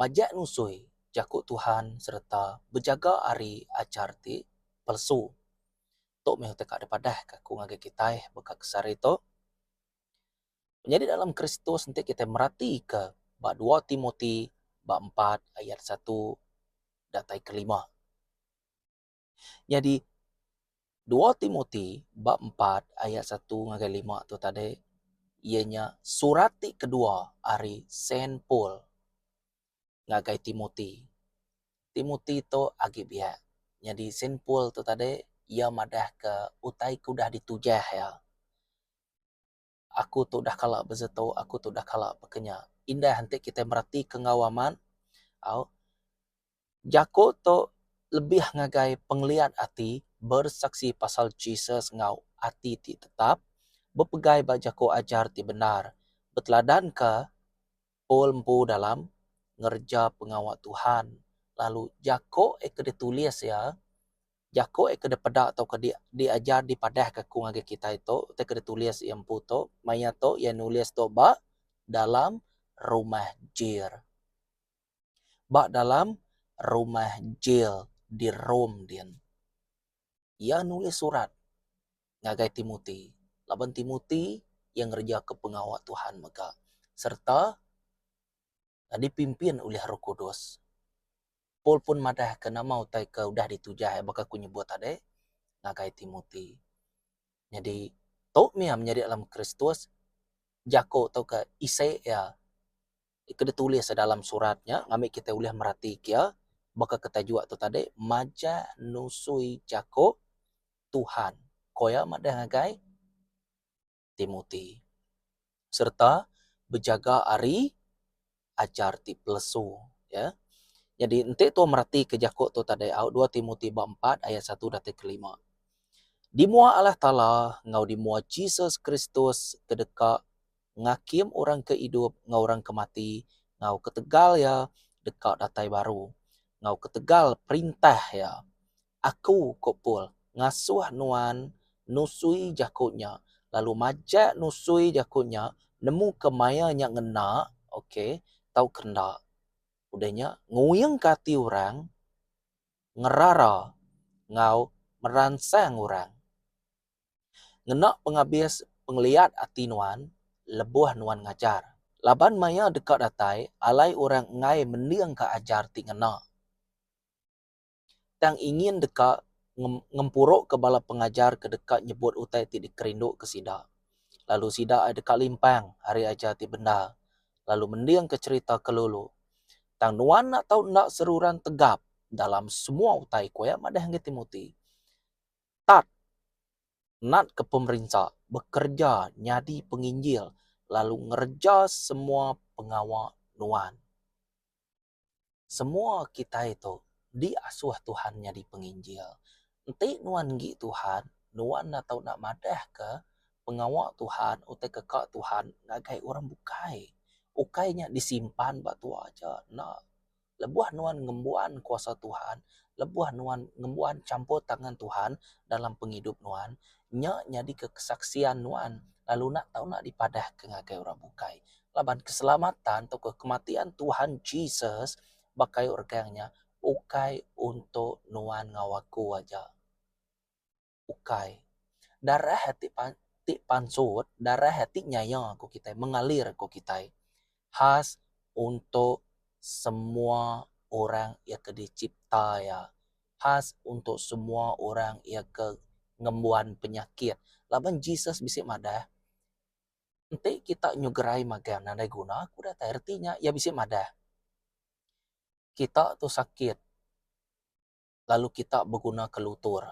Majak nusui jaku Tuhan sereta bejaga ari achar ti palsu. Tu meh utai ka dipadahka aku ngagai kitai baka ke sehari tu. Menyadi dalam Kristus enti kitai meratika ba dua Timoti bab empat ayat satu datai ke lima. Nyadi dua Timoti bab empat ayat satu ngagai lima tu tadi iya nya surat ti kedua ari Saint Paul ngagai Timoti. Timoti tu agi biak nyadi Saint Paul tu tadi iya madahka utai ke udah ditujah iya. Aku tu udah kala bezetu aku tu udah kala bekenya. Indah enti kitai meratika enggau amat au jaku tu lebih ngagai pengeliat ati bersaksi pasal Jesus enggau ati ti tetap bepegai ba jaku ajar ti bendar beteladanka Paul empu dalam ngereja pengawa Tuhan lalu jaku e ke ditulis iya Jaku iya ke dipeda tauka di diajar dipadahka ku ngagai kitai tu utai ke ditulis iya empu tu maya tu iya nulis tu ba dalam rumah jil. Ba dalam rumah jil di Rome din. Iya nulis surat ngagai Timoti laban Timoti iya ngerejaka pengawa Tuhan mega sereta nyadi pimpin ulih Roh Kudus. Paul pun madahka nama utai ke udah ditujah iya baka aku nyebut tadi ngagai Timoti. Nyadi, tu mih iya menyadi dalam Kristus jaku tauka isi iya ke ditulis dalam surat nya ngambi kitai ulih meratika iya baka ke taja tu tadi majak nusui jaku Tuhan, ku iya madah ngagai. Timoti sereta bejaga ari ajar ti pelesu ya. Nyadi enti tau meratika jaku tu tadi au dua Timoti bab empat ayat satu datai ke lima. Di mua Allah Taala enggau di mua Jesus Kristus ke deka ngakim orang ke idup enggau orang ke mati enggau ketegal iya deka datai baru enggau ketegal perintah iya Aku, ku Paul, ngasuh nuan nusui jaku nya, lalu majak nusui jaku nya nemuka maya nya ngena, ok, tauka enda. Udah nya, nguingka ati orang, ngerara, enggau meransang orang. Ngena pengabis pengeliat ati nuan lebuh nuan ngajar. Laban maya deka datai, alai orang enggai mendingka ajar ti ngena. tang ingin deka ngempuruka bala pengajar ke deka nyebut utai ti dikerinduka sida, lalu sida ai deka limpang ari ajar ti bendar lalu mendingka cherita ke lulu. Tang nuan enda tau enda seruran tegap dalam semua utai ku iya madah ngagai Timoti. Tat natka pemerinsa, bekereja nyadi penginjil lalu ngereja semua pengawa nuan. Semua kitai tu diasuh Tuhan nyadi penginjil. Enti nuan enggi Tuhan, nuan enda tau enda madahka pengawa Tuhan utai ke ka Tuhan ngagai orang bukai. Ukai nya disimpan ba tua aja, enda. Lebuh nuan ngembuan kuasa Tuhan, lebuh nuan ngembuan champur tangan Tuhan dalam pengidup nuan, nya nyadika kesaksian nuan lalu enda tau enda dipadahka ngagai orang bukai. Laban keselamatan tauka kematian Tuhan Jesus ba kayu regang nya ukai untuk nuan enggau aku aja. Ukai. Darah ti pan ti pansut, darah ti nyaya ku kitai, mengalir ku kitai khas untuk semua orang iya ke dicipta iya. Khas untuk semua orang iya ke ngembuan penyakit. Laban Jesus bisi madah, Enti kita nyugerai magang nadai guna ku datai reti nya iya bisi madah. Kita tu sakit lalu kita beguna ke lutur.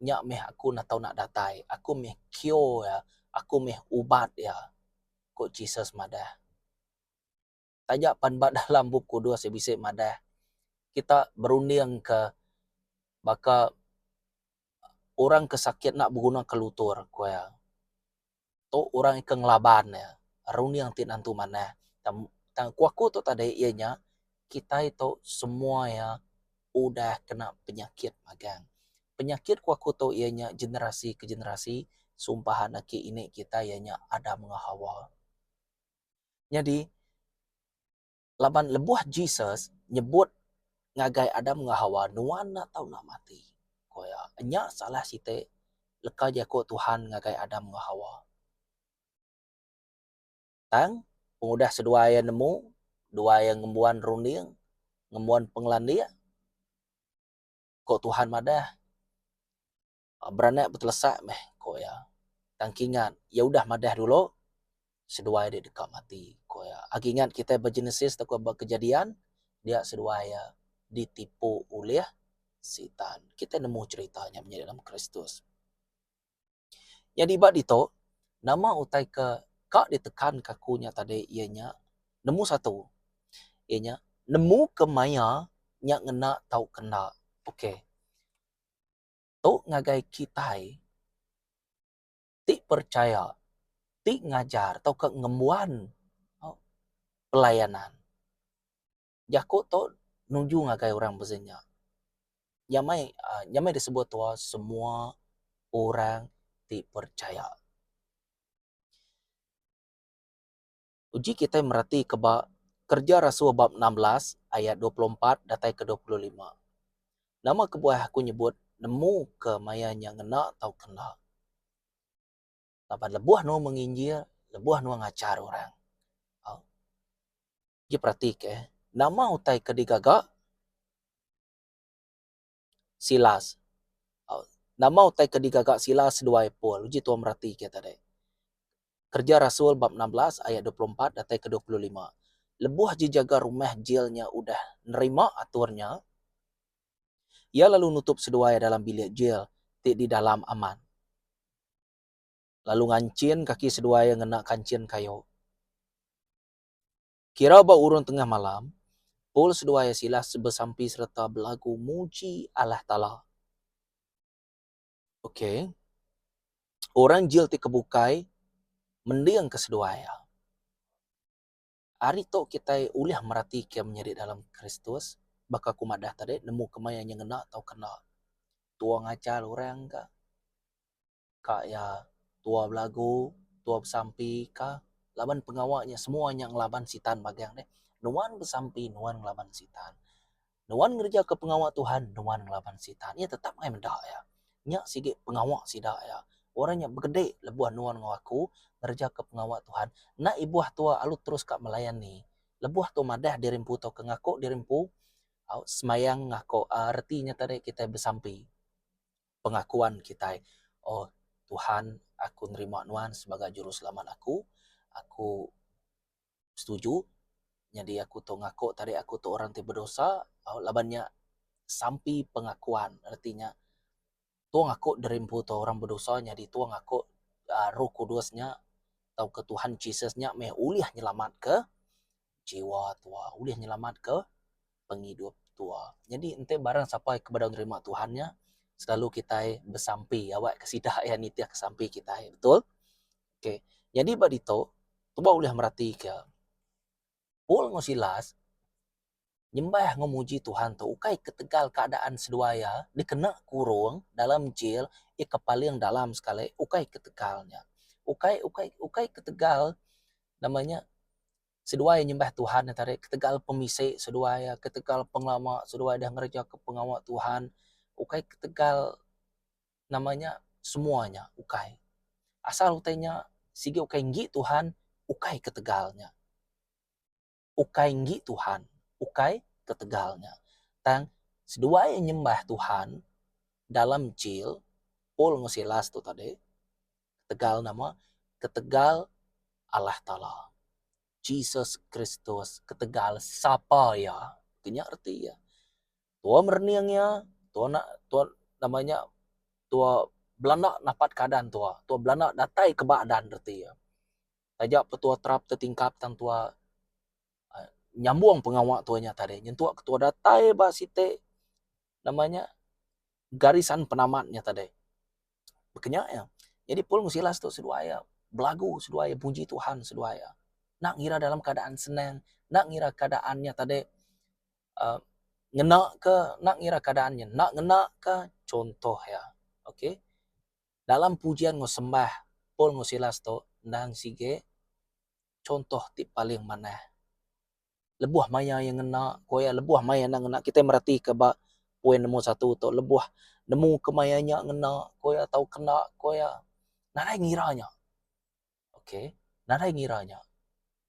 Nya meh aku enda tau nak datai. Aku meh cure iya. Aku meh ubat iya, ku Jesus madah. taja pan ba dalam Bup Kudus iya bisi madah kita berundingka baka orang ke sakit enda begunaka lutur ku iya. Tu orang ke ngelaban iya, runding ti nentu manah. Tang ku aku tu tadi iya nya kitai tu semua iya udah kena penyakit magang. Penyakit ku aku tu iya nya generasi ke generasi sumpahan aki ini kita iya nya Adam enggau Hawa. Nyadi, laban lebuh Jesus nyebut ngagai Adam enggau Hawa, Nuan enda tau enda mati, ku iya. Nya salah siti leka jaku Tuhan ngagai Adam enggau Hawa. Tang, pengudah seduai iya nemu, dua iya ngembuan runding, ngembuan pengelandik, ku Tuhan madah, Beranak betelesak meh, ku iya. Tang kingat, iya udah madah dulu, seduai dek deka mati, ku iya. Agi ingat kitai ba Genesis tauka ba Kejadian, dia seduai iya ditipu ulih Sitan. Kitai nemu cherita nya menyadi dalam Kristus. Nyadi ba ditu, nama utai ke ka ditekanka aku nya tadi iya nya, nemu satu, iya nya nemuka maya nya ngena tauka enda. Okey. tu ngagai kitai ti percaya, ti ngajar tauka ngembuan pelayanan. Jaku tu nuju ngagai orang pezin nya. Nya meh nya meh disebut tuah semua orang ti percaya. Uji kitai meratika ba Kerja Rasul bab enam belas ayat dua puluh empat datai ke dua puluh lima. Nama kebuah aku nyebut nemu ke maya nya ngena tauka enda? Laban lebuh nuan menginjil, lebuh nuan ngajar orang. Au. Uji peratika, nama utai ke digaga? Silas. Au, nama utai ke digaga Silas seduai Paul? Uji tuan meratika tadi. Kerja Rasul bab enam belas ayat dua puluh empat datai ke dua puluh lima. Lebuh ji jaga rumah jil nya udah nerima atur nya, iya lalu nutup seduai dalam bilik jil ti di dalam aman, lalu nganchin kaki seduai iya ngena kanchin kayu. Kira ba urung tengah malam, Paul seduai iya Silas besampi sereta belagu muji Allah Taala. Okey. Orang jil ti ke bukai mending ke seduai iya. Ari tu kitai ulih meratika menyadi dalam Kristus baka ku madah tadi nemu kemaya nyengena tauka enda. Tua ngajar orang ka. ka iya tua belagu tua besampi ka laban pengawa iya semua nya ngelaban sitan magang deh nuan besampi nuan ngelaban sitan nuan ngereja ka pengawa Tuhan nuan ngelaban sitan iya tetap angai meda iya nya sigi pengawa sida iya orang nya begede lebuh nuan enggau aku ngereja ka pengawa Tuhan enda ibuh tua lalu terus ka melayani lebuh tua madah diri empu tau ke ngaku diri empu au semayang ngaku reti nya tadi kitai besampi. pengakuan kitai, Oh Tuhan, aku nerima Nuan sebagai Juruselamat aku. Aku setuju. Nyadi aku tu ngaku tarik aku tu orang ti bedosa. Laban nya sampi pengakuan. Reti nya tong aku diri empu tu orang bedosa nyadi tong aku Roh Kudus nya tauka Tuhan Jesus nya meh ulih nyelamatka jiwa tua ulih nyelamatka pengidup tua. Nyadi enti barang sapa ke bedau nerima Tuhan nya selalu kitai besampi awak ke sida iya nitih ke sampi kitai betul. Okay nyadi ba ditu tuboh ulih meratika Paul enggau Silas Nyembah enggau muji Tuhan tu ukai ketegal keadaan seduai iya dikena kurung dalam jail iya ke paling dalam sekali ukai ketegal nya. Ukai ukai ukai ketegal nama nya seduai nyembah Tuhan nya tadi ketegal pemisi seduai iya ketegal pengelama seduai deh ngereja ke pengawa Tuhan ukai ketegal nama nya semua nya ukai. Asal utai nya sigi ukai enggi Tuhan ukai ketegal nya. ukai enggi Tuhan, ukai ketegal nya. Tang seduai iya nyembah Tuhan dalam jil, Paul enggau Silas tu tadi, ketegal nama, ketegal Allah Taala, Jesus Kristus, ketegal sapa iya. Tu nya reti iya. Tua merening iya, tua na, tua nama nya, tua belanda napat keadaan tua, tua belanda datai ke ba adan reti iya. Taja Petua Trap tetingkap tang tua nyambung pengawa tua nya tadi nyentuk ketua datai ba siti nama nya garisan penamat nya tadi. Baka nya iya. Nyadi Paul Mesilas tu seduai iya belagu seduai iya puji Tuhan seduai iya. Enda ngira dalam keadaan senang, enda ngira keadaan nya tadi uhh ngena ke, enda ngira keadaan nya enda ngena ke chunto iya. Okay. Dalam pujian enggau sembah Paul enggau Silas tu endang sigi chontoh ti paling manah. Lebuh maya iya ngena, ku iya lebuh maya iya enda ngena, kitai meratika ba poin nombor satu tu, lebuh nemu kemaya nya ngena, ku iya tau kena, ku iya nadai ngira nya. Ok nadai ngira nya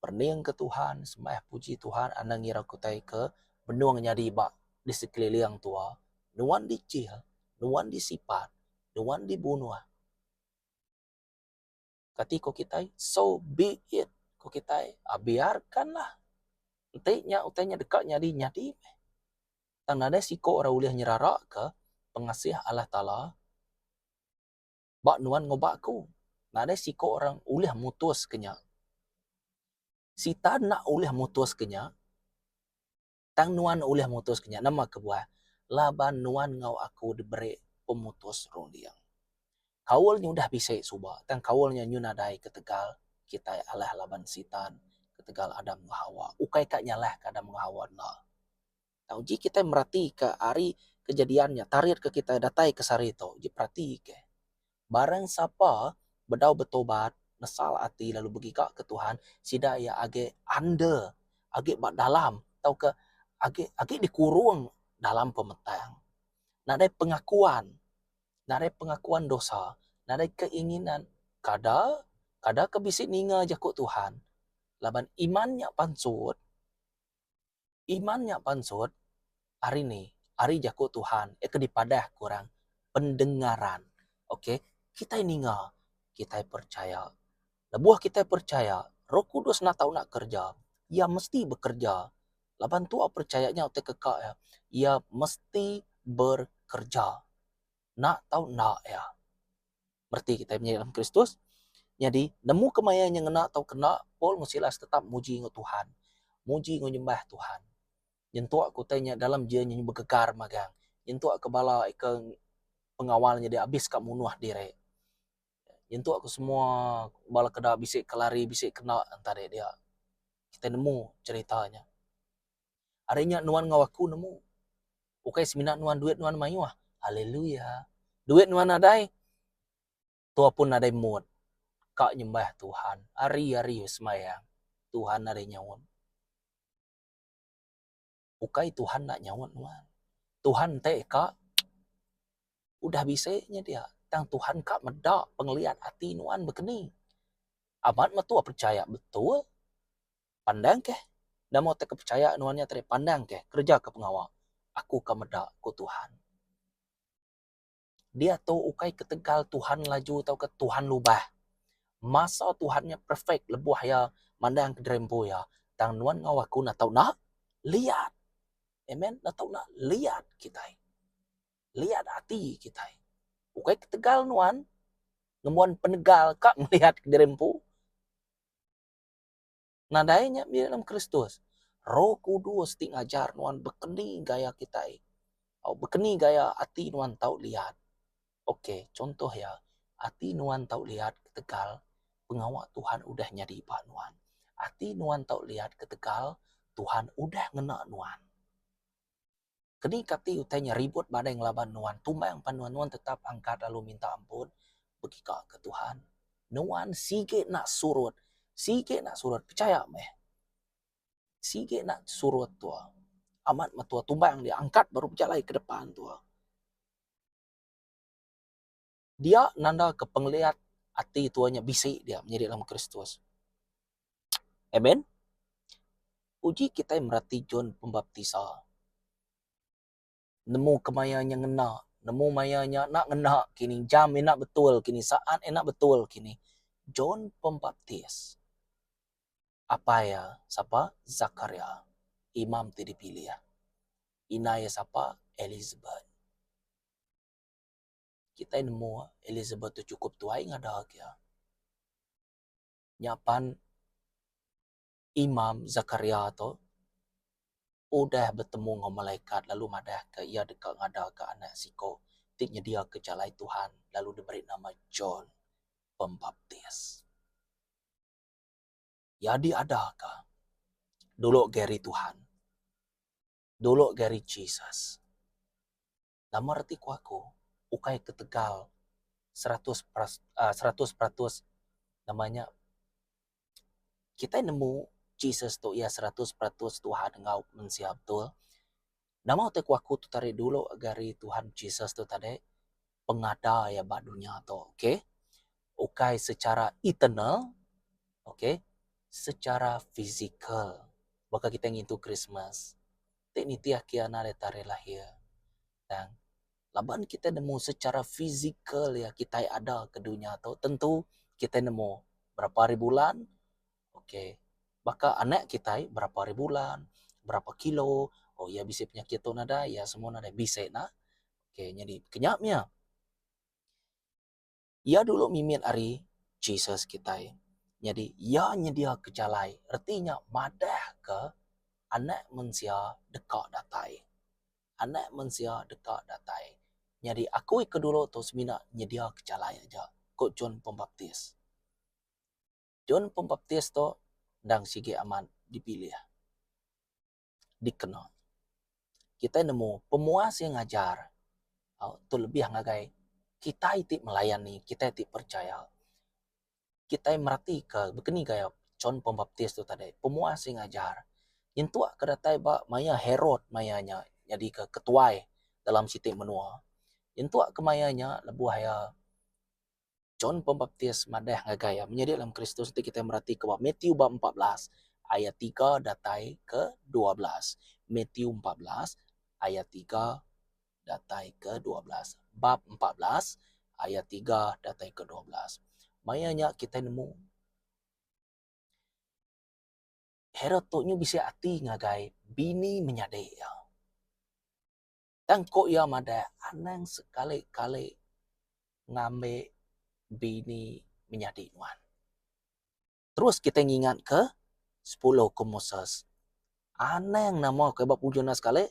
pening ke Tuhan sembah puji Tuhan anang ngira kitai ke benung nyadi ba di sekeliling tua nuan dichil nuan disipat nuan dibunuh kati ko kitai so be it ko kitai biarkan lah enti nya utai nya deka nyadi nyadi meh tang nadai siko ira ulih nyerara ke pengasih Allah Taala. ba nuan ngubah aku. Nadai siko orang ulih mutus ke nya. Sita enda ulih mutus ke nya, tang nuan ulih mutus ke nya. Nama kebuah? Laban nuan enggau aku diberi pemutus runding. Kaul nya udah bisi suba, tang kaul nya nyu nadai ketegal kitai alah laban Sita ketegal Adam enggau Hawa. Ukai ka nyalah ka Adam enggau Hawa enda. Tau ji kitai meratika ari kejadian nya tarit ke kitai datai ke sehari tu ji peratika barang sapa bedau betobat nesal ati lalu begiga ke Tuhan sida iya agi under agi ba dalam tauka agi agi dikurung dalam pemetang nadai pengakuan nadai pengakuan dosa nadai keinginan kada kada ke bisi ninga jaku Tuhan laban iman nya pansut. Iman nya pansut ari ni ari jaku Tuhan iya ke dipadah ke orang pendengaran ok kitai ninga kitai percaya lebuh kitai percaya roh kudus enda tau enda kerja iya mesti bekerja laban tua percaya nya utai ke ka iya iya mesti bekerja enda tau enda iya. bereti kitai menyadi dalam Kristus. Nyadi, nemu kemaya nya ngena atau kena, Paul enggau Silas tetap muji enggau Tuhan. Muji enggau nyembah Tuhan. Nyentuk ke utai nya dalam jia nya begegar magang. Nyentuk ke bala ika pengawal nya dek abis ka munuh diri. Nyentuk ke semua bala ke da bisi ke lari, bisi kena entah dek dia. Kitai nemu cerita nya. Ari nya nuan enggau aku nemu. Ukai semina nuan duit nuan mayuh. Haleluya. Duit nuan nadai tua pun nadai mood ka nyembah Tuhan. Hari-hari besembahyang Tuhan nadai nyaut. Ukai Tuhan enda nyaut nuan. Tuhan enti ka udah bisi nya dia tang Tuhan ka meda pengeliat ati nuan bekeni. Amat metua percaya betul. Pandang keh, nama utai ke pechaya nuan nya tadi pandang keh kereja ke pengawa aku ka meda ku Tuhan. Diatu ukai ketegal Tuhan laju tauka Tuhan lubah. Masa Tuhan nya perfect lebuh iya mandang kediri empu iya tang nuan enggau aku enda tau enda liat. Amen enda tau enda liat kitai. Liat ati kitai. Ukai ketegal nuan ngembuan penegal ka meliat kediri empu. Nadai nya mih dalam Kristus. Roh Kudus ti ngajar nuan bekeni gaya kitai. Au bekeni gaya ati nuan tau liat. Ok, chuntoh iya, ati nuan tau liat ketegal pengawa Tuhan udah nyadi ba nuan. Ati nuan tau liat ketegal Tuhan udah ngena nuan. Keni kati utai nya ribut badai ngelaban nuan tumbang pan nuan-nuan tetap angkat lalu minta ampun? Begika ke Tuhan, nuan sigi enda surut, sigi enda surut, pechaya meh. Sigi enda surut tua. Amat metua tumbang dia angkat baru bejalai ke depan tua. Dia nandaka pengeliat ati tuai nya bisi dia menyadi dalam Kristus. Amen. Uji kitai merati John Pembaptisa. Nemu kemaya nya ngena, nemu maya nya enda ngena kini, jam enda betul kini, saat enda betul kini. John Pembaptis apai iya sapa? Zakaria, imam ti dipilih. Indai iya sapa? Elisabet. Kitai nemu Elizabeth tu chukup tuai ngada agi iya. Nya pan Imam Zakaria tu udah betemu enggau malaikat lalu madahka iya deka ngadaka anak siko ti nyediaka jalai Tuhan lalu diberi nama John Pembaptis. Iya diadaka dulu ga ari Tuhan, dulu ga ari Jesus. Nama reti ku aku ukai ketegal seratus seratus peratus nama nya kitai nemu Jesus tu iya seratus peratus Tuhan enggau mensia betul. Nama utai ku aku tu tarik dulu gari Tuhan Jesus tu tadi pengada iya ba dunya tu okay ukai secara eternal okay secara physical baka kitai ngintu Christmas. Ti nitih kiya enda deka tarikh lahir tang laban kitai nemu secara fizikal iya kitai ada ke dunya tu tentu kitai nemu berapa hari bulan okay baka anak kitai berapa hari bulan berapa kilo oh iya bisi penyakit tu nadai iya semua nadai bisi ne okay nyadi kenya mia. Iya dulu mimit ari Jesus kitai. Nyadi, iya nyediaka jalai, reti nya madahka Anak Mensia deka datai. Anak Mensia deka datai. Nyadi, aku ika dulu tu semina nyediaka jalai aja, ku John Pembaptis. John Pembaptis tu endang sigi amat dipilih. dikena. Kitai nemu pemuas iya ngajar tu lebih ngagai kitai ti melayani, kitai ti percaya. Kitai meratika bekeni gaya John Pembaptis tu tadi, pemuas iya ngajar. Nyentuk ke datai ba maya Herod maya nya nyadika ketuai dalam siti menua. Nyentuk ke maya nya lebuh iya John Pembaptis madah ngagai iya menyadi dalam Kristus enti kitai meratika ba Matthew bab empat belas ayat tiga datai ke dua belas. Matthew empat belas ayat tiga datai ke dua belas. Bab empat belas ayat tiga datai ke dua belas. Maya nya kitai nemu Herod tu nyu bisi ati ngagai bini menyadi iya. Tang ku iya madah, anang sekali-kali ngambi bini menyadi nuan. Terus kitai ngingatka sepuluh ukum Moses. Anang nama ke ba penghujung enda sekali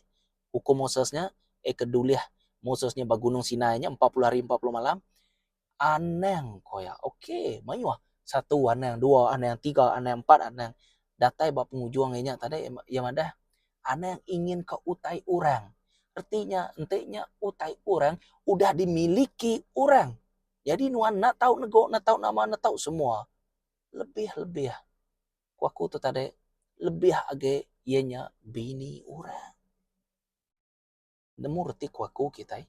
ukum Moses nya, eh ke dulih Moses nya ba Gunung Sinai nya empat puluh hari empat puluh malam, Anang ko iya. Ok mayuh satu anang dua anang tiga anang empat anang datai ba pengujung inya tadi iya madah anang ingin ka utai orang. Reti nya enti nya utai orang udah dimiliki orang. Jadi nuan enda tau nego enda tau nama enda tau semua lebih-lebih ku aku tu tadi lebih agi iya nya bini orang. Nemu reti ku aku kitai.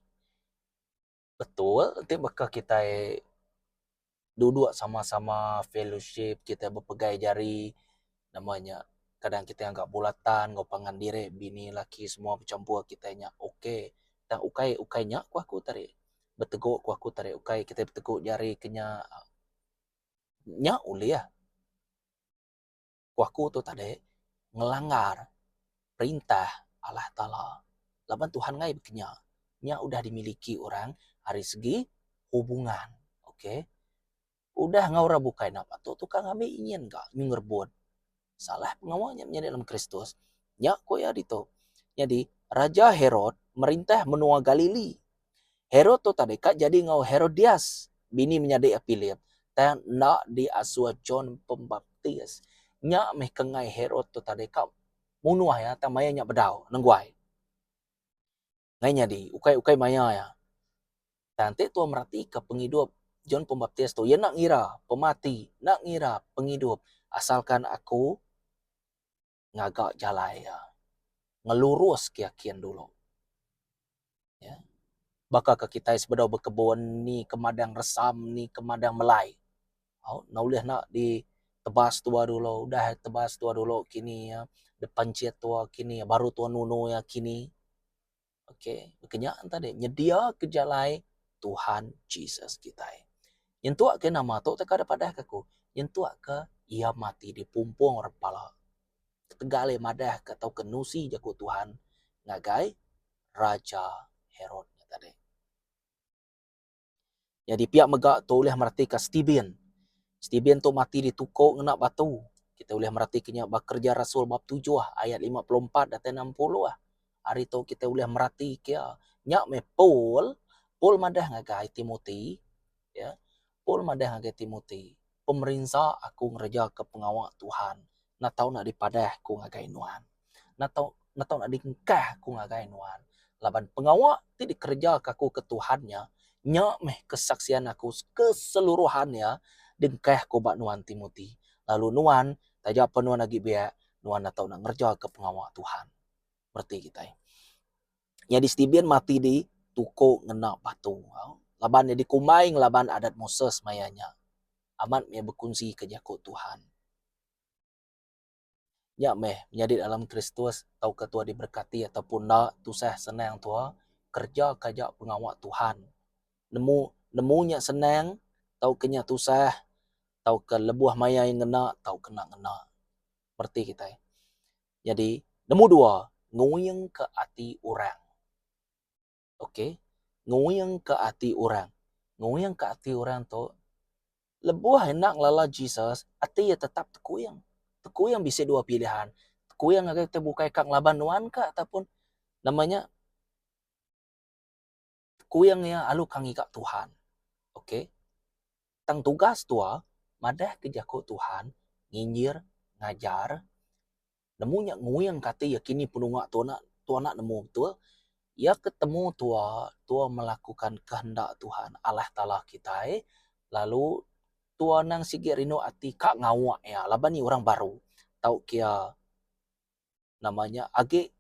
betul ti baka kitai duduk sama-sama fellowship kitai bepegai jari nama nya kadang kitai ngaga bulatan enggau pangan diri bini laki semua bechampur kitai nya ok tang ukai ukai nya ku aku tadi beteguk ku aku tadi ukai kitai beteguk jari ke nya nya ulih. ku aku tu tadi ngelanggar perintah Allah Taala laban Tuhan ngai bekenya nya udah dimiliki orang ari segi hubungan okay udah enggau orang bukai enda patut tukar ngambi nyin ka nyin ngerebut salah pengawa nya menyadi dalam Kristus nya ku iya ditu nyadi raja Herod merintah menua Galili. Herod tu tadi ka jadi enggau Herodias, bini menyadi Philip, tang enda diasuh John Pembaptis. Nya meh kengai Herod tu tadi ka munuh iya tang maya nya bedau nengguai. Ngai nyadi, ukai-ukai maya iya. Tang enti tuan meratika pengidup John Pembaptis tu, iya enda ngira pemati, enda ngira pengidup asalkan aku. ngaga jalai iya ngelurus ke yakin dulu iya baka ke kitai sebedau bekebun ni ke madang resam ni ke madang melai au enda ulih enda di tebas tua dulu udah tebas tua dulu kini iya depan chit tua kini baru tua nunu iya kini. Okay. Baka nya tadi, nyedia ke jalai Tuhan Jesus kitai. Nyentuk ke nama tu teka dek padah ke aku. Nyentuk ke iya mati di pumpung orang pala. Ketegal iya madah ke tau ke nusi jaku Tuhan ngagai Raja Herod tadi. Nyadi pia mega tu ulih meratika Stephen. Stephen tu mati dituko ngena batu. Kita ulih meratika nya ba Kerja Rasul bab tujuh ayat lima puluh empat datai enam puluh. Ari tu kita ulih meratika iya. Nya meh Paul, Paul madah ngagai Timothy, ya. Paul madah ngagai Timothy. Pemerinsa aku ngerejaka pengawa Tuhan enda tau nak dipadah aku ngagai nuan. Enda tau enda tau nak diengkah aku ngagai nuan. Laban pengawa ti dikerejaka aku ke Tuhan nya, nya meh kesaksian aku keseluruhan iya diengkah aku ba nuan Timoti. Lalu nuan, taja pa nuan agi biak, nuan enda tau nak ngerejaka pengawa Tuhan. Reti kitai. nyadi Stephen mati di tuko ngena batu. Laban iya dikumbai ngelaban adat Moses maya nya, amat meh bekunsika jaku Tuhan. Nya meh, menyadi dalam Kristus tauka tuah diberkati ataupun enda, tusah senang tuah kerejaka aja pengawa Tuhan. Nemu nemu nya senang tauka nya tusah, tauka lebuh maya iya ngena tauka enda ngena. Mereti kitai. Nyadi, nemu dua, nguingka ati orang. Ok, nguingka ati orang. Nguingka ati orang tu, lebuh enda ngelala Jesus, ati iya tetap tekuing. Tekuing bisi dua pilihan. Tekuing ngagai ti bukai ka ngelaban nuan ka ataupun nama nya, Kuing iya alu ka ngiga Tuhan. Ok. Tang tugas tua madah ke jaku Tuhan nginjir, ngajar. Nemu nya nguing ka ati iya kini penunga tua enda tua enda nemu betul. Iya ke temu tua, tua melakukan kehendak Tuhan Allah Taala kitai lalu tua anang sigi rindu ati ka ngawa iya laban iya orang baru tauka iya nama nya agi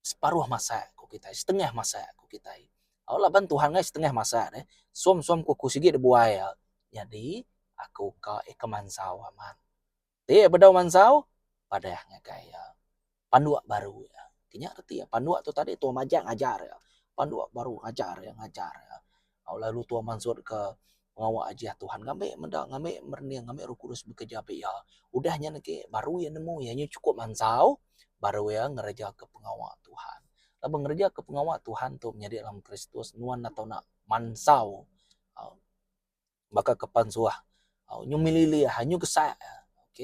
Separuh masa, ku kitai. Setengah masa, ku kitai. Au laban Tuhan ngai setengah masa deh. Som-som ku aku sigi dibuai iya. Nyadi, aku ka ikam mansau amat. Ti bedau mansau, padah ngagai iya. Panduk baru iya. Kinya reti iya. Panduk tu tadi tuai majak ngajar iya. Panduk baru ngajar iya, ngajar iya. Au lalu tua mansut ka pengawa Ajih Tuhan ngambi meda ngambi merening ngambi roh kudus bekereja be iya. Udah nyen agi baru iya nemu iya nyen chukup mansau baru iya ngereja ke pengawa Tuhan. Laban ngereja ke pengawa Tuhan tu menyadi dalam Kristus nuan enda tau nak mansau baka ke pan suah. Au nyu mililih ha nyu kesak ok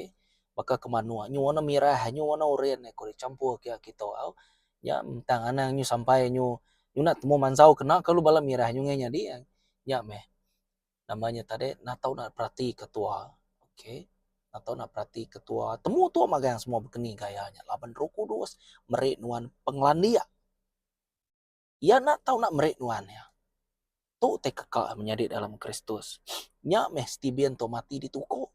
baka ke manuk nyu warna mirah nyu warna oren ko deh campur ke aki tu au nya ntang anang nyu sampai nyu nyuna temu mansau kena kalu bala mirah nyu ngai nyadi nya meh nama nya tadi natau na perati ke tuwa ok natau na perati ke tuwa temu tuwa magang semua bekeni gaya nya laban rock kudus meri nuan pengelandik. Iya enda tau enda meri nuan iya. Tu utai keka menyadi dalam Kristus. Nya meh Stibin tu mati dituku.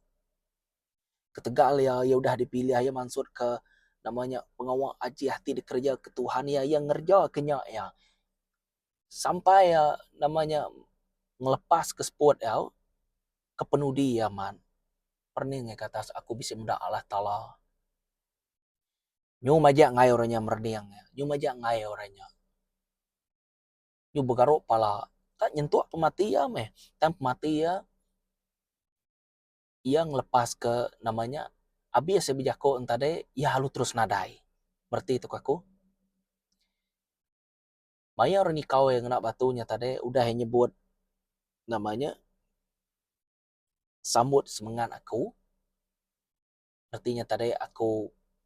Ketegal iya, iya udah dipilih, iya mansutka nama nya pengawa ajih ti dikerejaka Tuhan iya, iya ngerejaka nya iya sampai iya nama nya ngelepaska seput iya kepenudi iya mat. Perening iya ke atas, Aku bisi meda Allah Taala. Nyu majak ngai orang nya merening nya. Nyu majak ngai orang nya. Nyu begaru pala. Ka nyentuk pemati iya meh. Tang pemati iya, iya ngelepaska nama nya, abis iya bejaku ngan tadi, iya alu terus nadai. Bereti tu ke aku. Mayuh orang nyekau iya ngena batu nya tadi udah iya nyebut nama nya, sambut semengat aku. reti nya tadi aku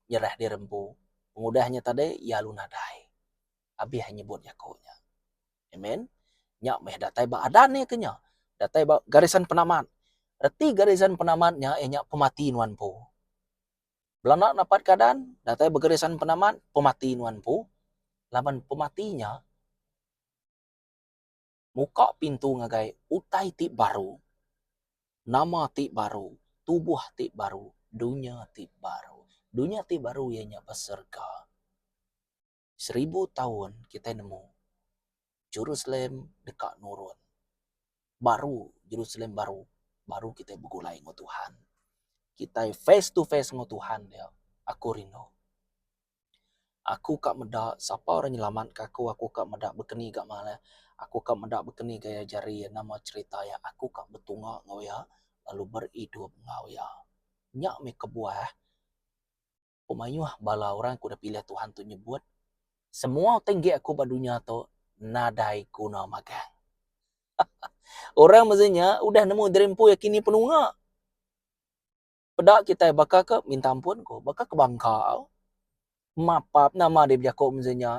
nyerah diri empu pengudah nya tadi lalu nadai abih nyebut jaku nya amen nya meh datai ba adat nya ke nya datai ba garisan penamat reti garisan penamat nya iya nya pemati nuan empu bala enda dapat keadaan datai ba garisan penamat pemati nuan empu laban pemati nya Muka pintu ngagai utai ti baru, nama ti baru, tubuh ti baru, dunya ti baru. Dunya ti baru iya nya ba serega. Seribu taun kitai nemu Jerusalem deka nurun. Baru, Jerusalem baru. Baru kitai begulai enggau Tuhan. Kitai face to face enggau Tuhan dia. Aku rindu. Aku ka meda sapa orang nyelamat ka aku aku ka meda bekeni ga mak ne aku ka meda bekeni ga iya jari iya nama cerita iya aku ka betunga enggau iya lalu beridup enggau iya. Nya meh kebuah pemayoh bala orang ke udah pilih Tuhan tu nyebut semua ti enggi aku ba dunya tu nadai guna magang. Orang mesti nya udah nemu diri empu iya kini penunga. Peda kitai baka ke minta ampun ko baka ke bangka mapap nama deh bejaku meze nya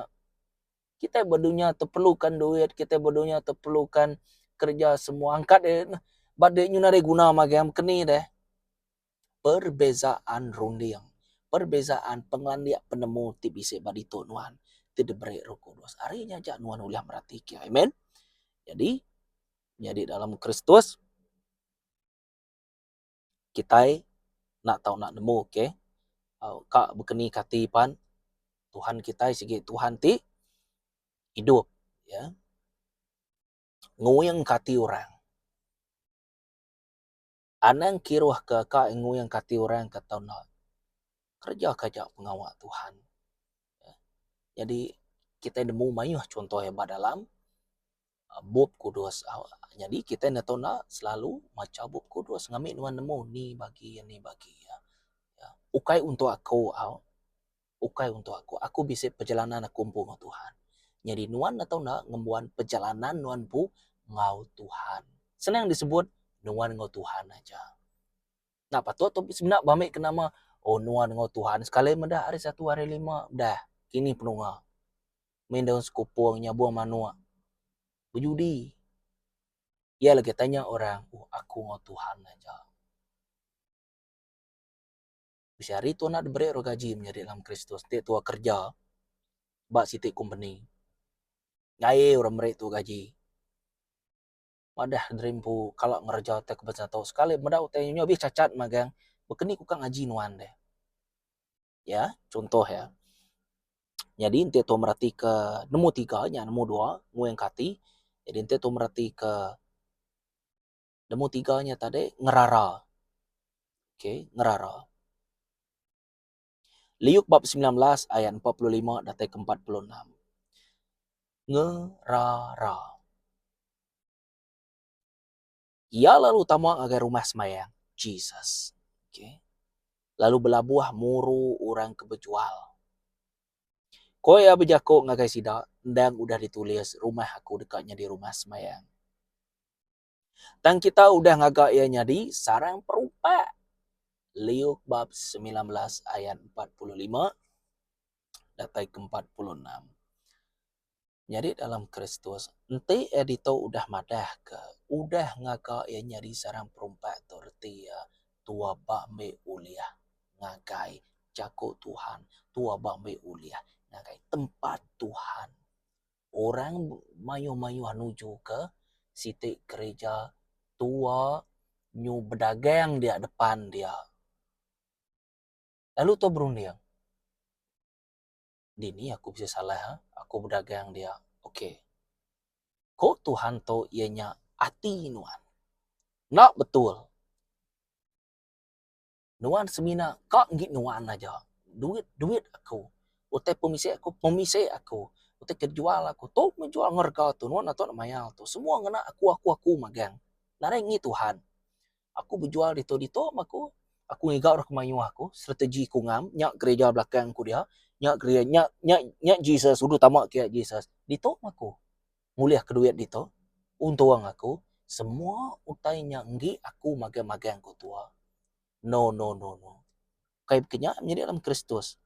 kitai ba dunya tu perlukan duit kitai ba dunya tu perlukan kerja semua angkat deh ba deh nyudah deh guna magang meh keni deh perbezaan runding perbezaan pengelandik penemu ti bisi ba ditu nuan ti diberi Roh Kudus ari nya aja nuan ulih merati ke amen jadi nyadi dalam Kristus. kitai enda tau nak nemu ke ka bekeni ka ati pan Tuhan kitai sigi Tuhan ti idup ya nguing ka ati orang. Anang kiruh ke ka nguing ka ati orang ka tau nak kereja kereja pengawa Tuhan. Jadi kitai nemu mayuh chunto iya ba dalam Bup Kudus. Nyadi kita enda tau enda selalu macha Bup Kudus ngambi nuan nemu ni bagi iya ni bagi iya. Ukai untuk aku au ukai untuk aku. Aku bisi perjalanan aku empu enggau Tuhan. Nyadi nuan enda tau enda ngembuan perjalanan nuan empu enggau Tuhan. Senang disebut nuan enggau Tuhan aja. Nah patut tu semina ba meh ke nama oh nuan enggau Tuhan sekali meda hari satu hari lima dah kini penunga main daun sekupung nyabung manuk bejudi iya lagi tanya orang oh aku enggau Tuhan aja bisi hari Tuhan enda beri orang gaji menyadi dalam Kristus ti tuah kerja ba siti company gaie orang meri tu gaji. Madah diri empu kala ngereja utai ke betul tu sekali meda utai nyu abih chanchat magang bekeni ku ka ngaji nuan deh. Ya chuntoh ya nyadi enti tu meratika nemu tiga nya nemu dua nguingka ati jadi enti tu meratika nemu tiga nya tadi ngerara. Okay ngerara. Liuk bab semilan belas ayat empat puluh lima datai ke empat puluh enam. Ngerara. Iya lalu tama ngagai rumah semayang Jesus. Okay. Lalu belabuh muru orang ke bejual. Ko iya bejako ngagai sida, endang udah ditulis rumah aku deka nyadi rumah semayang. Tang kita udah ngaga iya nyadi sarang perupak. Liuk bab semilan belas ayat empat puluh lima datai ke empat puluh enam. Nyadi dalam Kristus, enti iya ditu udah madahka, udah ngaga iya nyadi sarang perupak tu reti iya tua ba ambi ulih ngagai jaku Tuhan, tua ba ambi ulih ngagai tempat Tuhan. orang mayuh-mayuh nujuka siti kereja tua nyu bedagang dia depan dia. Lalu tau berunding, dini aku bisi salah aku bedagang dia. Ok, ko Tuhan tu iya nya ati nuan. Enda betul. Nuan semina ka enggi nuan aja. Duit duit aku. Utai pemisai aku pemisai aku. Utai ke dijual aku tu meh jual enggau rega tu. Nuan atok mayar tu. Semua ngena aku aku aku magang. Nadai enggi Tuhan. Aku bejual ditu ditu meh aku. Aku ngiga orang ke mayuh aku. Strategi aku ngam. Nya gereja belakang aku dia. Nya gereja nya nya nya Jesus. Ulu tama kia Jesus. Ditu meh aku. ngulihka duit ditu, untung aku, semua utai nya enggi aku magang-magang ku tua. No no no no. Ukai baka nya menyadi dalam Kristus.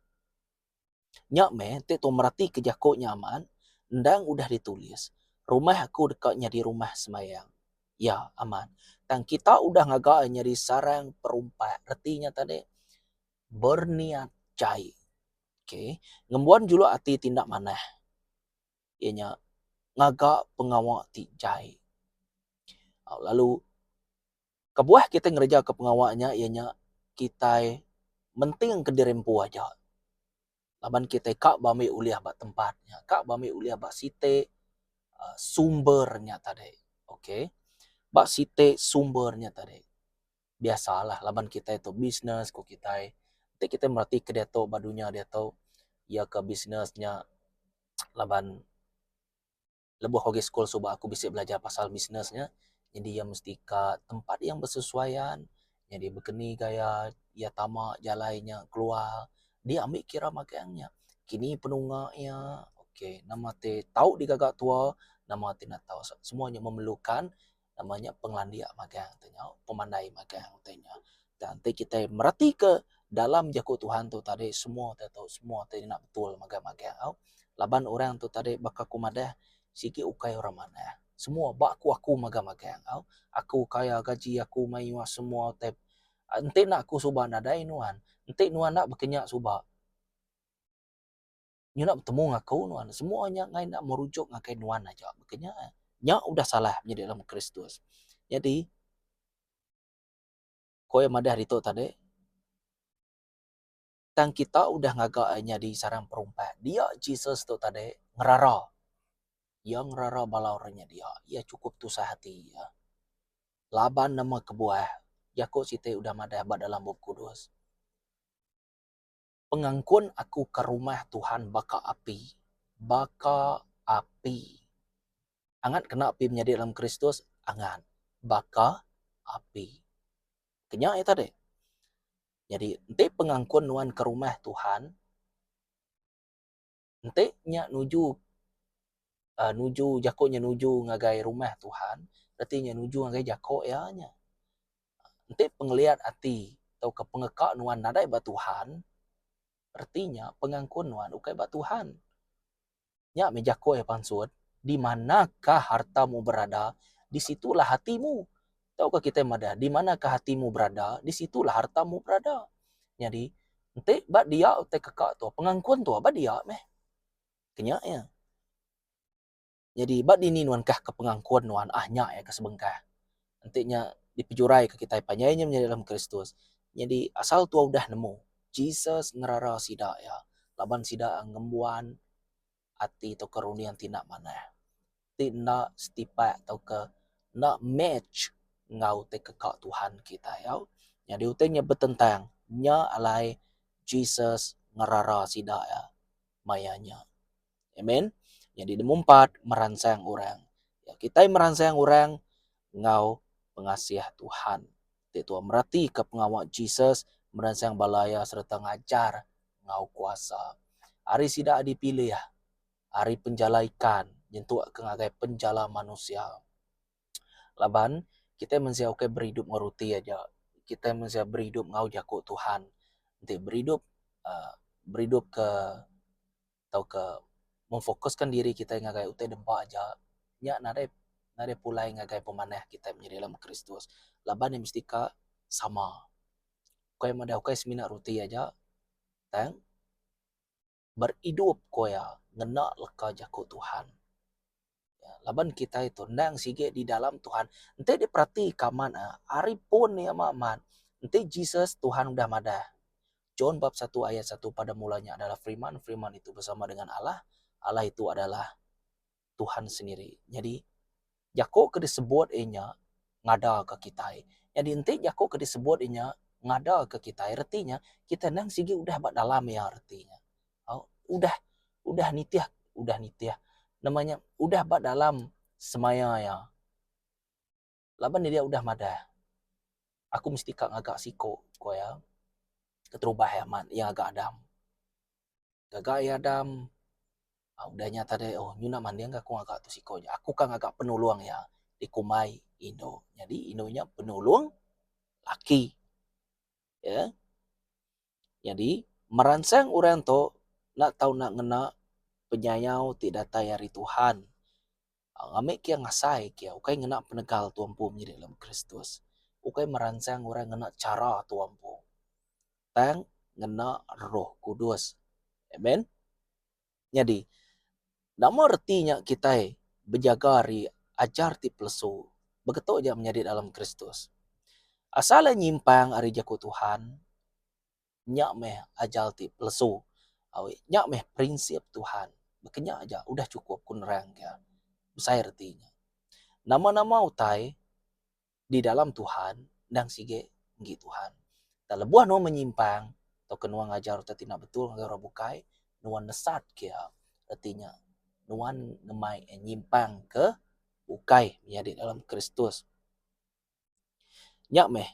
Nya meh enti tau meratika jaku nya amat, endang udah ditulis, Rumah aku deka nyadi rumah sembahyang. Ya, amat. Tang kita udah ngaga iya nyadi sarang perumpak, reti nya tadi berniat jai. Okay. Ngembuan juluk ati ti enda manah. iya nya ngaga pengawa ti jai lalu kebuah kitai ngereja ka pengawa nya iya nya kitai menting ka diri empu aja laban kitai ka ba ami ulih ba tempat nya ka ba ami ulih ba siti uhh sumber nya tadi okay ba siti sumber nya tadi. biasa lah laban kitai tu bisnes ku kitai nti kitai mereti ke diatu ba dunya diatu iya ke bisnes nya laban lebuh aku agi sekul suba aku bisi belajar pasal bisnes nya jadi iya mesti ka tempat yang bersesuaian jadi bekeni gaya iya tama jalai nya keluar dia ambi kira magang nya kini penunga iya okay nama ti tau digaga tua nama ti enda tau semua nya memerlukan Nama nya pengelandik magang tu nyau, pemandai magang tu nyau. Tang enti kitai meratika dalam jaku Tuhan tu tadi semua te tu semua te ngena betul mega magang au. Laban orang tu tadi baka ku madah sigi ukai orang manah. Semua ba aku aku mega magang au. Aku kaya gaji aku mayuh semua te enti enda aku suba nadai nuan, enti nuan enda baka nya suba. Nya enda betemu enggau aku nuan. Semua nya enggai enda merujuk ngagai nuan aja. Baka nya. Nya udah salah menyadi dalam Kristus. Nyadi, ku iya madah ditu tadi, tang kita udah ngaga iya nyadi sarang perumpat. Dia Jesus tu tadi ngerara. Iya ngerara bala orang nya dia. Iya chukup tusah ati iya. Laban nama kebuah? Jaku siti udah madah ba dalam Bup Kudus. Pengangkun aku ka rumah Tuhan baka api, baka api. Angat kena api menyadi dalam Kristus? Angat. Baka api. Kenya iya tadi. Nyadi enti pengangkun nuan ka rumah Tuhan, Enti nya nuju uhh nuju jaku nya nuju ngagai rumah Tuhan reti nya nuju ngagai jaku iya nya. Enti pengeliat ati tauka pengeka nuan nadai ba Tuhan reti nya pengangkun nuan ukai ba Tuhan. Nya meh jaku iya pansut, di manakah hartamu berada, di situlah hatimu. Tauka kitai madah, di manakah atimu berada, di situlah hartamu berada. Nyadi, enti ba dia utai keka tu, pengangkun tu ba dia meh. Kenya iya. Nyadi ba dini nuankah ke pengangkun nuan, ah nya iya ke sebengkah. Enti nya dipejuraika kitai panjai nya menyadi dalam Kristus, nyadi asal tuau udah nemu, Jesus ngerara sida iya laban sida ngembuan ati tauka runding ti enda manah, ti enda setipak tauka enda match enggau utai keka Tuhan kitai au. Nyadi utai nya betentang, nya alai Jesus ngerara sida iya maya nya. Amen. Nyadi nombor empat, meransang orang. Kitai meransang orang enggau pengasih Tuhan. ti tuah meratika pengawa Jesus meransang bala iya sereta ngajar enggau kuasa. Ari sida dipilih ari penjala ikan nyentukka ngagai penjala manusia. Laban kitai mensia ukai beridup enggau ruti aja, kitai mensia beridup enggau jaku Tuhan. Enti beridup uhh beridupka. tauka memfokuskan diri kitai ngagai utai dempa aja, nya nadai nadai pulai ngagai pemanah kitai menyadi alam Kristus. Laban ne mesti ka sama. Kai madah ukai semina roti aja tang beridup ku iya ngena leka jaku Tuhan. laban kitai tu endang sigi di dalam Tuhan enti diperatika amat a ari pun iya meh amat enti Jesus Tuhan udah madah John bab satu ayat satu pada mula nya adalah Firman, Firman itu bersama dengan Allah, Allah itu adalah Tuhan sendiri. Nyadi jaku ke disebut iya nya ngada ke kitai. Nyadi enti jaku ke disebut iya nya ngada ke kitai reti nya kitai endang sigi udah ba dalam iya reti nya. Udah udah nitih udah nitih nama nya udah ba dalam semaya iya laban diri iya udah madah aku mesti ka ngaga siko ku iya keterubah iya mat iya ngaga adam. Ngaga iya adam udah nya tadi oh nyu ina manding aku ngaga tu siko nya aku ka ngaga penulong iya dikumbai indu jadi indu nya penulong laki iya. Nyadi, meransang orang tu enda tau enda ngena penyayau ti datai ari Tuhan. Ami kiya ngasai kiya ukai ngena penegal Tuan Empu Menyidik Lemu Kristus, ukai meransang orang ngena chara Tuan Empu, tang ngena Roh Kudus. Amen. Nyadi, nama reti nya kitai bejaga ari ajar ti pelesu begetu ja menyadi dalam Kristus? Asal iya nyimpang ari Jaku Tuhan, nya meh ajar ti pelesu. Awi, nya meh prinsip Tuhan. Baka nya aja udah chukup ku nerangka besai reti nya. Nama-nama utai di dalam Tuhan endang sigi enggi Tuhan. Tang lebuh nuan menyimpang tauka nuan ngajar reti ti enda betul ngagai orang bukai, nuan nesatke iya, reti nya nuan ngemai iya nyimpangke ukai menyadi dalam Kristus. Nya meh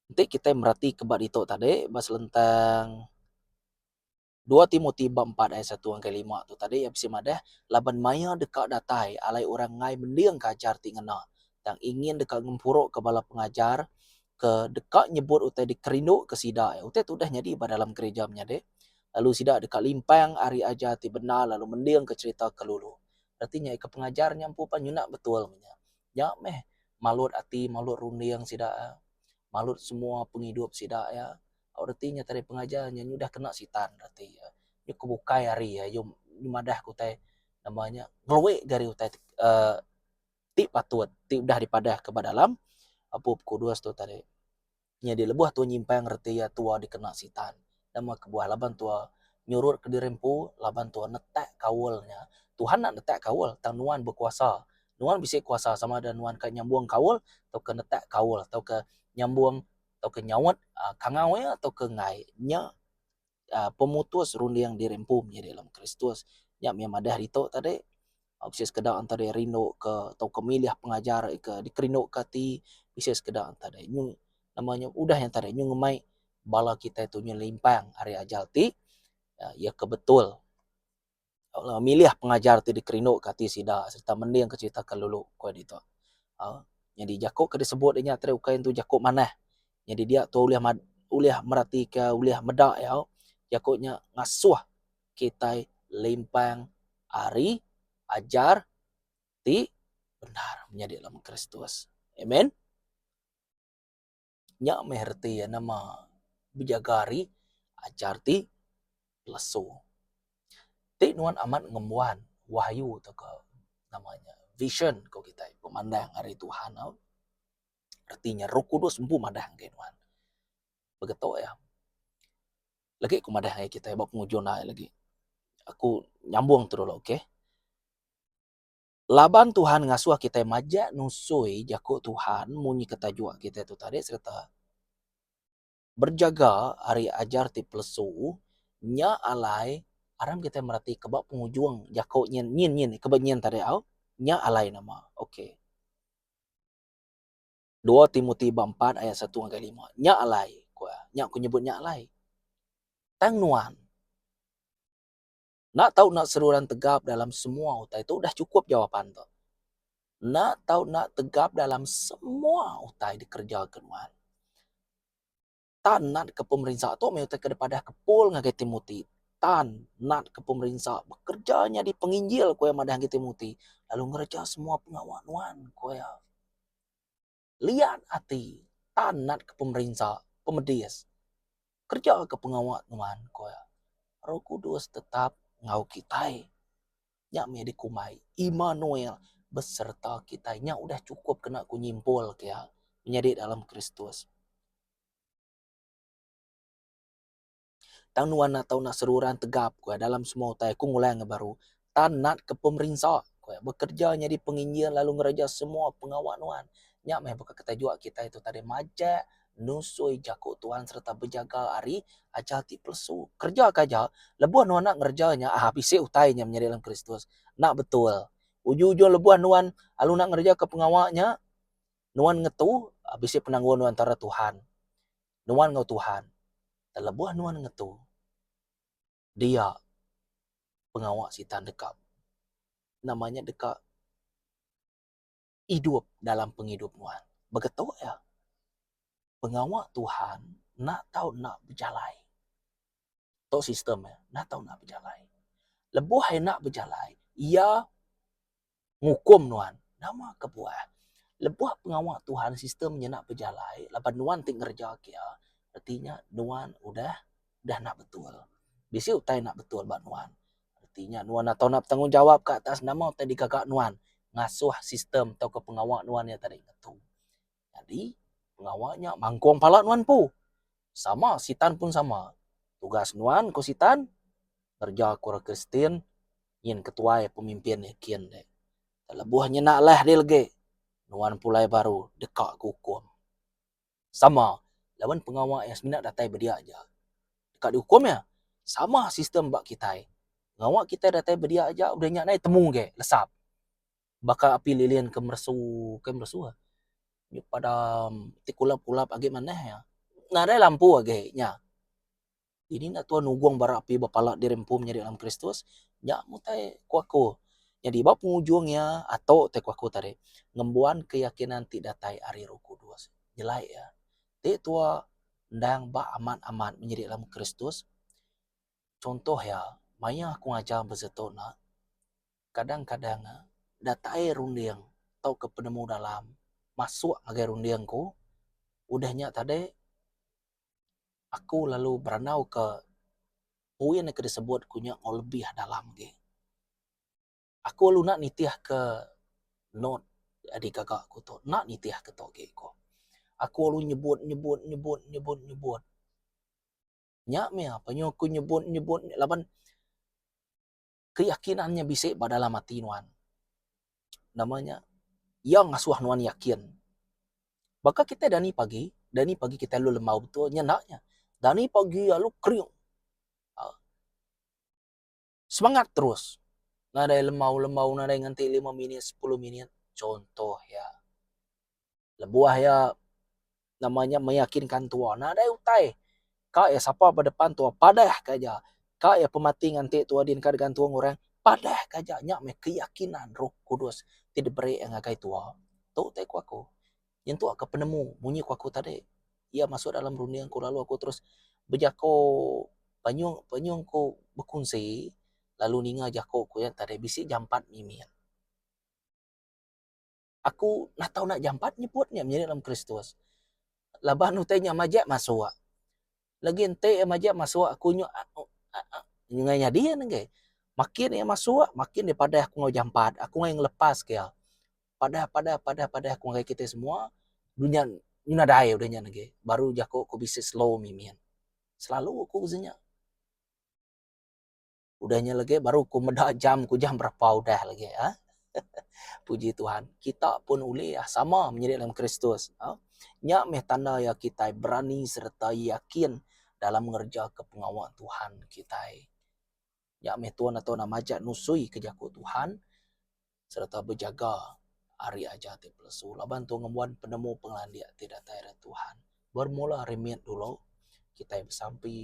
enti kitai meratika ba ditu tadi ba selentang. Dua Timoti bab empat ayat satu ngagai lima tu tadi iya bisi madah, Laban maya deka datai, alai orang enggai mendingka ajar ti ngena, tang ingin deka ngempuruka bala pengajar ke deka nyebut utai dikerinduka sida. Utai tu udah nyadi ba dalam gerija menyadi, lalu sida deka limpang ari ajar ti bendar lalu mendingka cherita ke lulu. Reti nya ika pengajar nya empu pan nyuna betul meh nya. Nya meh malut ati, malut runding sida iya, malut semua pengidup sida iya. Au reti nya tadi pengajar nya udah kena sitan reti iya. Nya ku bukai ari iya yu madah ku utai nama nya ngeluik ga ari utai uhh ti patut ti udah dipadah ka ba dalam bup kudus tu tadi. Nyadi lebuh tuan nyimpang reti iya tuan dikena sitan. Nama kebuah laban tuan nyurut ka diri empu laban tuan netak kaul nya. Tuhan enda netak kaul tang nuan bekuasa. Nuan bisi kuasa sama ada nuan ka nyambung kaul tauka netak kaul tauka nyambung. tauka nyaut kangau iya tauka enggai nya pemutus runding diri empu menyadi dalam Kristus. Nya mih madah ditu tadi bisi sekeda enti diri rinduka tauka milih pengajar ika dikerinduka ati bisi sekeda enti diri nyung nama nya udah nya tadi nyung ngemai bala kitai tu nyelimpang ari ajal ti iya ke betul. milih pengajar ti dikerinduka ati sida sereta mendingka cherita ke lalu ku iya ditu. Nyadi jaku ke disebut inya tadi ukai entu jaku manah. Nyadi dia tu ulih ulih meratika ulih meda iya jaku nya ngasuh kitai limpang ari ajar ti bendar menyadi Kristus. Amen. Nya meh reti iya nama bejaga ari ajar ti pelesu. Ti nuan amat ngembuan wahyu tauka nama nya vision ko kitai pemandang ari Tuhan au. Reti nya roh kudus empu madah ngagai nuan. Begitu iya. Legi ku madah ngagai kitai ba pengujung ai legi. Aku nyambung tu dulu okay. Laban Tuhan ngasuh kitai majak nusui jaku Tuhan munyi ke tajuk kitai tu tadi sereta berjaga ari ajar ti pelesu, nya alai aram kitai mereti ke ba pengujung jaku nyin nyin nyin ke ba nyin tadi au, nya alai nama. Ok. Dua Timoti bab empat ayat satu ngagai lima. Nya alai, ku iya. Nya ku nyebut nya alai. Tang nuan. Enda tau enda seruran tegap dalam semua utai tu udah chukup jawapan tu. Enda tau enda tegap dalam semua utai dikerejaka nuan. Tan natka pemerinsa tu meh utai ke dipadahka Paul ngagai Timoti. Tan natka pemerinsa bekereja nyadi penginjil, ku iya madah ngagai Timoti, lalu ngereja semua pengawa nuan, ku iya. liat ati tan natka pemerinsa pemedis kerejaka pengawa nuan ku iya. Roh Kudus tetap enggau kitai. Nya mih dikumbai Immanuel besereta kitai. Nya udah chukup kena ku nyimpul ke iya menyadi dalam Kristus. Tang nuan enda tau nak seruran tegap ku iya dalam semua utai aku ngulai enggau baru tan nat ke pemerinsa ku iya bekerja nyadi penginjin lalu ngereja semua pengawa nuan nya meh baka ke tajuk kitai tu tadi majak nusui jaku tuan sereta bejaga ari ajar ti pelesu kereja ka aja lebuh nuan enda ngereja nya aaa bisi utai nya menyadi dalam kristus enda betul ujung-ujung lebuh nuan lalu ngereja ke pengawa nya nuan ngetu bisi penanggul nuan tara tuhan. nuan enggau Tuhan teleboh nuan ngetu dia pengawa sita deka nama nya deka idup dalam pengidup nuan. Beketu iya pengawa Tuhan enda tau enda bejalai. Tu sistem iya enda tau enda bejalai. Leboh iya enda bejalai iya ngukum nuan. Nama kebuah? Lebuh pengawa Tuhan sistem nyena bejalai laban nuan ti ngereja kia, reti nya nuan udah udah enda betul. Bisi utai enda betul ba nuan. Reti nya nuan enda tau enda betanggungjawab ke atas nama utai digaga nuan ngasuh sistem tauka pengawa nuan iya tadi ngetu. Nyadi, pengawa nya mangkung pala nuan empu. Sama, Sitan pun sama. Tugas nuan, ku Sitan, ngereja ke orang Kristian nyin ketuai pemimpin nya kin deh. Tak lebuh nyena alai dih legi, nuan pulai baru deka ke ukum. Sama, laban pengawa iya semina datai ba dia aja, deka diukum iya. Sama sistem ba kitai. Pengawa kitai datai ba dia aja, udah nya nai temu geh lesap. baka api lilin ke meresu ke meresu ah nyuk padam ti kulap kulap agi manah iya nadai lampu agi nya dini enda tau nugong bara api ba pala diri empu menyadi dalam kristus nya utai ku aku nyadi ba pengujung iya atok te ku aku tadi ngembuan keyakinan ti datai ari roh kudus nyelai iya ti tuwa endang ba amat amat menyadi dalam kristus Chuntoh iya, maya aku ngajar ba situ nya, kadang-kadang nya datai runding tauka penemu dalam masuk ngagai runding aku. Udah nya tadi, aku lalu berandauka poin ke disebut aku nya enggau lebih dalam agi. Aku lalu enda nitihka note adi gaga aku tu, enda nitihka tu agi aku. Aku lalu nyebut, nyebut, nyebut, nyebut, nyebut. Nya meh penyu aku nyebut nyebut nya laban keyakinan nya bisi ba dalam ati nuan. Nama nya iya ngasuh nuan yakin. Baka kitai dani pagi, dani pagi kitai alu lembau betul nya enda nya. Dani pagi alu kering. Semangat terus. Nadai lembau lembau nadai ngenti lima minit sepuluh minit contoh iya. Lebuh iya nama nya meyakinkan tua nadai utai ka iya sapa ba depan tua padah ka aja ka iya pemati nganti tua din ka digantung orang padah ka aja nya meh keyakinan roh kudus ti diberi iya ngagai tua. Tu utai ku aku. Nyentuk ka penemu munyi ku aku tadi iya masuk dalam runding aku lalu aku terus bejako penyung penyung ku bekunsi lalu ninga jako ku iya tadi bisi jampat nyimin. Aku enda tau nak jampat nyebut nya menyadi dalam kristus laban utai nya majek masuk lagi enti iya majak masuk aku nyo ngai nyadi iya nenggai makin iya masuk makin iya padah aku enggau jampat aku ngai ngelepas ka iya padah padah padah padah aku ngai kitai semua dunya nyu nadai udah nya nenggai baru jaku ku bisi slow mimit selalu ku bisi nya. Udah nya lagi baru ku meda jam ku jam berapa udah lagi ha. Puji Tuhan, kita pun ulih ah, sama menyadi dalam Kristus. Ha? Nya meh tanda ya kita berani serta yakin dalam ngerja ke pengawa Tuhan kita. Nya meh tuan atau nama majak nusui ke jaku Tuhan. sereta bejaga ari ajar ti pelesu laban tu ngembuan penemu pengelandik ti datai ari Tuhan. Bermula ari mit dulu kitai besampi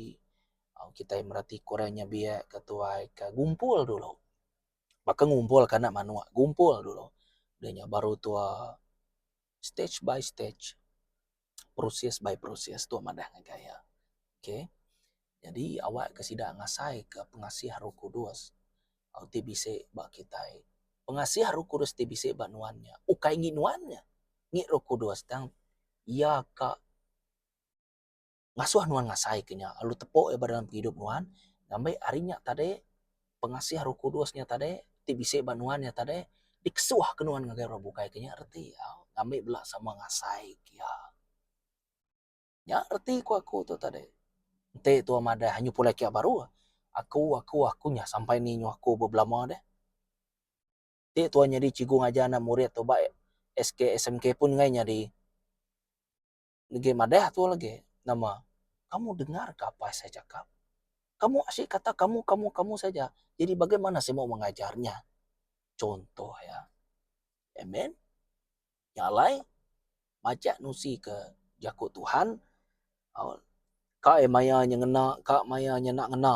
au kitai mereti ke orang nya biak ke tuai ke gumpul dulu baka ngumpul ke anak manuk gumpul dulu deh nya baru tuo stage by stage, process by process tu madah ngagai iya. Ok, nyadi awak ke sida ngasai ke pengasih roh kudus ti bisi ba kitai. Pengasih roh kudus ti bisi ba nuan nya ukai ngin nuan nya, ngin roh kudus tang iya ka. ngasuh nuan ngasai ke nya lalu tepuk iya ba dalam pengidup nuan ngambi hari nya tadi pengasih roh kudus nya tadi ti bisi ba nuan nya tadi dikesuh ke nuan ngagai orang bukai ke nya reti iya ngambi bela sama ngasai ke iya. Nya reti ku aku tu tadi. Enti tuan madah anyi pulai kiak baru aku aku aku nya sampai ni nyuh aku ba belama deh. Ti tuan nyadi cikgu ngajar anak murid tu ba SKSMK pun enggai nyadi. Negi madah tu lagi nama kamu dengar ka apai saya cakap kamu asyik kata kamu kamu kamu saja jadi bagaimana saya mau mengajar nya contoh ya amen nya alai majak nusi ke jaku Tuhan au ka e maya nya ngena ka maya nya enda ngena.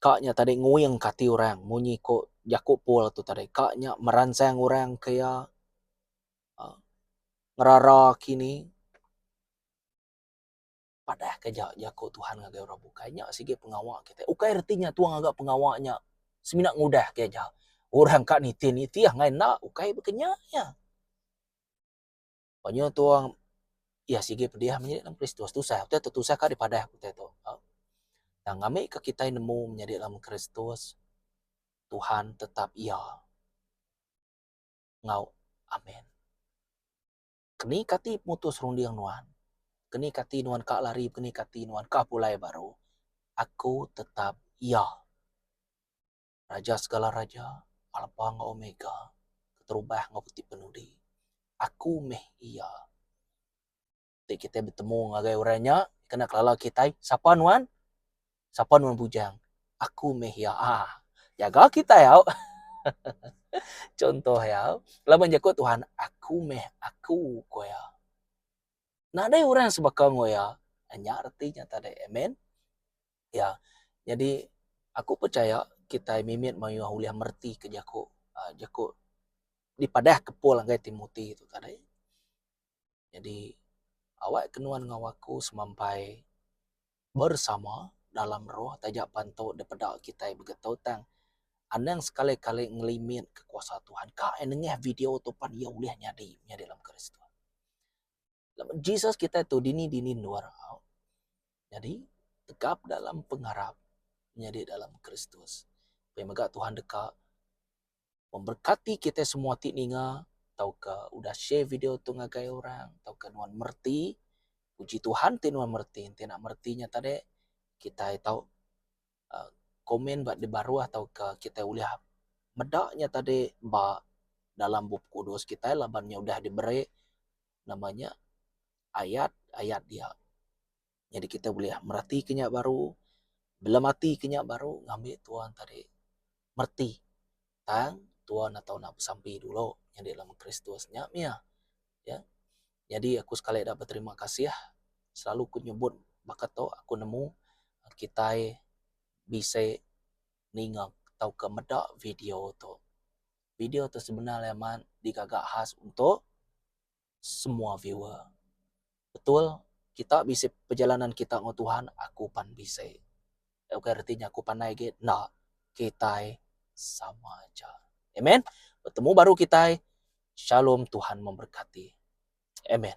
Ka nya tadi nguing ka ati orang munyi ko jaku Paul tu tadi. Ka nya meransang orang ke iya uhh ngerara kini padah ke ja jaku Tuhan ngagai orang bukai. Nya sigi pengawa kite. Ukai reti nya tuang ngaga pengawa nya semina ngudah ke ja. Orang ka nitih-nitih angai enda ukai baka nya iya. Ba nyu tu orang iya sigi pediah menyadi dalam Kristus tusah utai tu tusah ka dipadah aku utai tu. Tang ami ka kitai nemu menyadi dalam Kristus Tuhan tetap iya enggau amen. Keni ka ati mutus runding nuan? Keni ka ati nuan ka lari keni ka ati nuan ka pulai baru? Aku tetap iya. Raja segala raja, Alpa enggau Omega, Keterubah enggau Ketipenudi. Aku meh Iya. Enti kitai betemu ngagai orang nya, kena kelala kitai, Sapa nuan? Sapa nuan bujang? Aku meh Iya. Aa. Jaga kitai au. Chunto iya, laban jaku Tuhan, Aku meh Aku, ku Iya. Nadai orang sebaka enggau Iya. Nya reti nya tadi. Amen. Ya. Nyadi aku pechaya kitai mimit mayuh ulih meretika jaku aaa jaku dipadahka Paul ngagai Timothy tu tadi. Nyadi awakka nuan enggau aku semampai bersama dalam roh taja pan tu dipeda kitai begitu tang anang sekali-kali ngelimitka kuasa Tuhan ka ai nengah video tu pan iya ulih nyadi menyadi dalam Kristus. Jesus kitai tu dini dini endur au. Nyadi tegap dalam pengarap nyadi dalam Kristus. Pia mega Tuhan deka memberkati kitai semua ti ninga tauka udah share video tu ngagai orang tauka nuan mereti. Puji Tuhan ti nuan mereti enti enda mereti nya tadi kitai tau komen ba di baruh tauka kitai ulih meda nya tadi ba dalam Bup Kudus kitai laban nya udah diberi nama nya ayat-ayat dia. Nyadi kitai ulih meratika nya baru, belematika nya baru ngambi tuan tadi mereti tang tuan enda tau nak besampi dulu nyadi lem kristus nya mia ya nyadi aku sekali eda beterima kasih selalu ku nyebut baka tu aku nemu kitai bisi ninga tauka meda video tu video tu sebenar amat digaga khas untuk semua viewer. Betul kita bisi perjalanan kita enggau Tuhan aku pan bisi. Nya ukai reti nya aku panai agi enda kitai sama aja. Amen. Betemu baru kitai. Shalom Tuhan memberkati. Amen.